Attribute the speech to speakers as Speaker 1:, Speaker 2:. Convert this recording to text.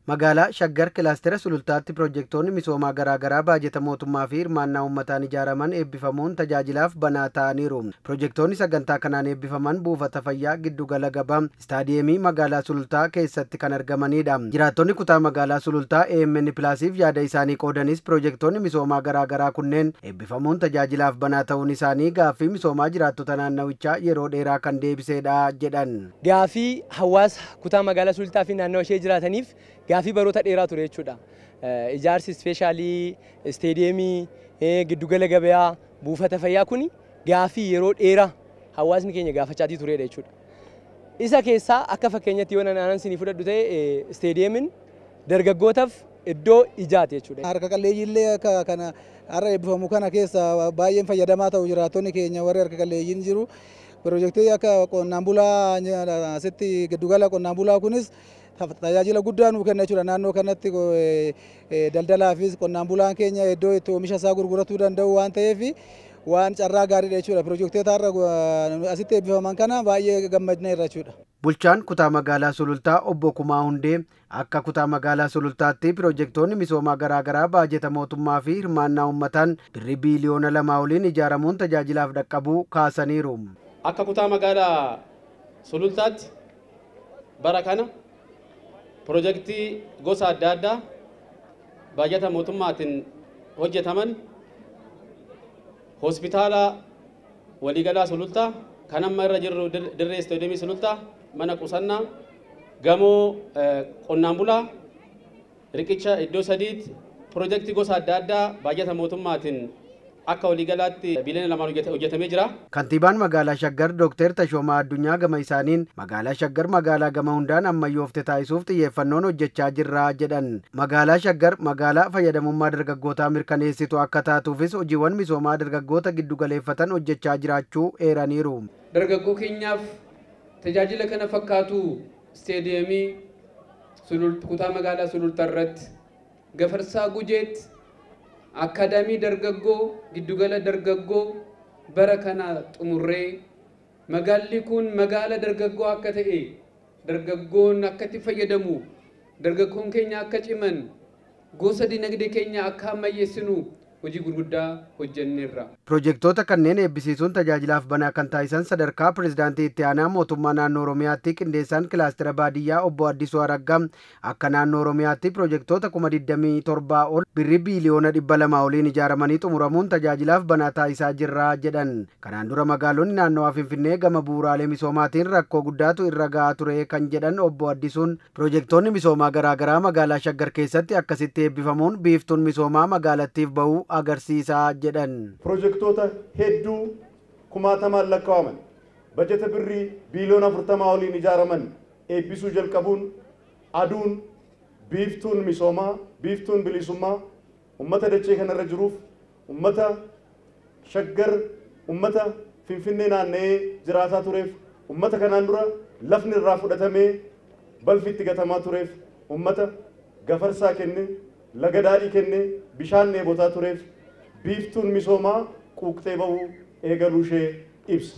Speaker 1: Magaalaa Shaggar Kilaastera Sulultaatti Piroojektoonni misoomaa garaagaraa baajeta mootummaa fi hirmaannaa uummataan ijaaraman eebbifamuun tajaajilaaf banaa taa'aniiru. Piroojektoonni sagantaa kanaan eebbifaman buufata fayyaa, giddu gala gabaa, istaadiyeemii magaalaa Sulultaa keessatti kan argamaniidha. Jiraattonni kutaa magaalaa Sulultaa amn Plus'f yaada isaanii qoodanis piroojektoonni misoomaa garaagaraa kunneen eebbifamuun tajaajilaaf banaa ta'uun isaanii gaaffii misoomaa jiraattota naannawichaa yeroo dheeraa kan deebiseedha jedhan. Gaafii
Speaker 2: hawaasa kutaa magaalaa Sulultaa fi naannawa ishee jiraataniif gaafii baroota dheeraa ture jechuudha. Ijaarsi ispeeshaalii isteediyeemii, giddugala gabayaa, buufata fayyaa kuni gaafii yeroo dheeraa hawaasni keenya gaafachaatii tureedha jechuudha. Isa keessaa akka fakkeenyatti yoo nan aanan sinii fudhadhu ta'e isteediyeemin dargaggootaf iddoo ijaati jechuudha. Harka qalleeyyiillee akka
Speaker 3: kana har'a eebbifamu kana keessa baay'een fayyadamaa ta'u jiraattonni keenya warri harka qalleeyyiin jiru. Pirojektii akka qonnaan bulaa asitti giddugala qonnaan bulaa kunis tajaajila guddaa nuu kenna jechuudha. Naannoo kanatti daldalaafis qonnaan bulaan keenya iddoo itti oomisha isaa gurguratuu danda'u waan ta'eef waan carraa gaariidha jechuudha. Pirojektoota har'a asitti eebbifaman kana baay'ee gammadneerra jechuudha. Bulchaan kutaa
Speaker 1: magaalaa Sulultaa obbo Kumaa Hundee Akka Kutaa Magaalaa Sulultaatti piroojektoonni misoomaa garaa garaa baajeta mootummaa fi hirmaannaa uummataan Birrii biiliyoona 2 oliin ijaaramuun tajaajilaaf dhaqqabuu kaasaniiru. Akka Kutaa
Speaker 4: Magaalaa Sulultaatti bara kana piroojektii gosa adda addaa baajata mootummaatiin hojjetaman Hospitaala, Waliigalaa Sulultaa, kan amma irra jirru dirree Istoodiyemii Sulultaa, mana qusannaa, gamoo qonnaan bulaa, riqicha iddoo sadiitti, pirojektii gosa adda addaa baajata mootummaatiin akka waliigalaatti biiliyoona lamaan hojjetamee jira. Kantiibaan Magaalaa
Speaker 1: Shaggar Dookteer Tashoomaa Addunyaa gama isaaniin, Magaalaa Shaggar magaalaa gama hundaan ammayyoofte taasisuuf xiyyeeffannoon hojjechaa jirra jedhan. Magaalaa Shaggar magaalaa fayyadamummaa dargaggootaa mirkaneessitu akka taatuufis hojiiwwan misoomaa dargaggoota giddugaleeffatan hojjechaa jiraachuu eeraniiru. Dargaggoo keenyaaf
Speaker 5: tajaajila kana fakkaatu Isteediyemii Sulult Kutaa Magaalaa Sulultaa irratti, Gafarsaa Gujeetti, Akkaadaamii Dargaggoo, Giddugala Dargaggoo bara kana xumurree, magaalli kun magaala dargaggoo akka ta'e dargaggoon akka itti fayyadamu, dargaggoon keenya akka ciman, gosa dinagdee keenya akka ammayyeessinu hojii gurguddaa hojjenneerra. Pirojektoota kanneen
Speaker 1: eebbisiisuun tajaajilaaf banaa kan taasisan sadarkaa Pireezidaantii Itti Aanaa Mootummaa Naannoo Oromiyaatti Qindeessaan Kilaastera Baadiyyaa Obbo Addisuu Araggaa, Akka Naannoo Oromiyaatti pirojektoota kuma 27 ol Birrii biiliyoona 200 oliin ijaaramanii xumuramuun tajaajilaaf banaa taasisaa jirra jedhan. Kanaan dura magaalonni naannawaa Finfinnee gama bu'uuraalee misoomaatiin rakkoo guddaatu irra ga'aa ture kan jedhan Obbo Addisuun, pirojektoonni misoomaa garaa garaa magaalaa Shaggar keessatti akkasitti eebbifamuun biiftuun misoomaa magaalattiif bahu agarsiisa jedhan. Pirojektoota
Speaker 6: hedduu kumaatamaan lakkaa'aman bajata Birrii biiliyoona 40 oliin ijaaraman eebbisuu jalqabuun aduun biiftuun misoomaa, biiftuun biliisummaa ummata dachee kana irra jiruuf, ummata Shaggar, ummata Finfinnee naanna'ee jiraataa tureef, ummata kanaan dura lafni irraa fudhatamee balfi itti gatamaa tureef, ummata Gafarsaa kenne, Laga Daadhii kenne bishaan dheebotaa tureef biiftuun misoomaa quuqxee ba'uu eegaluu ishee ibsa.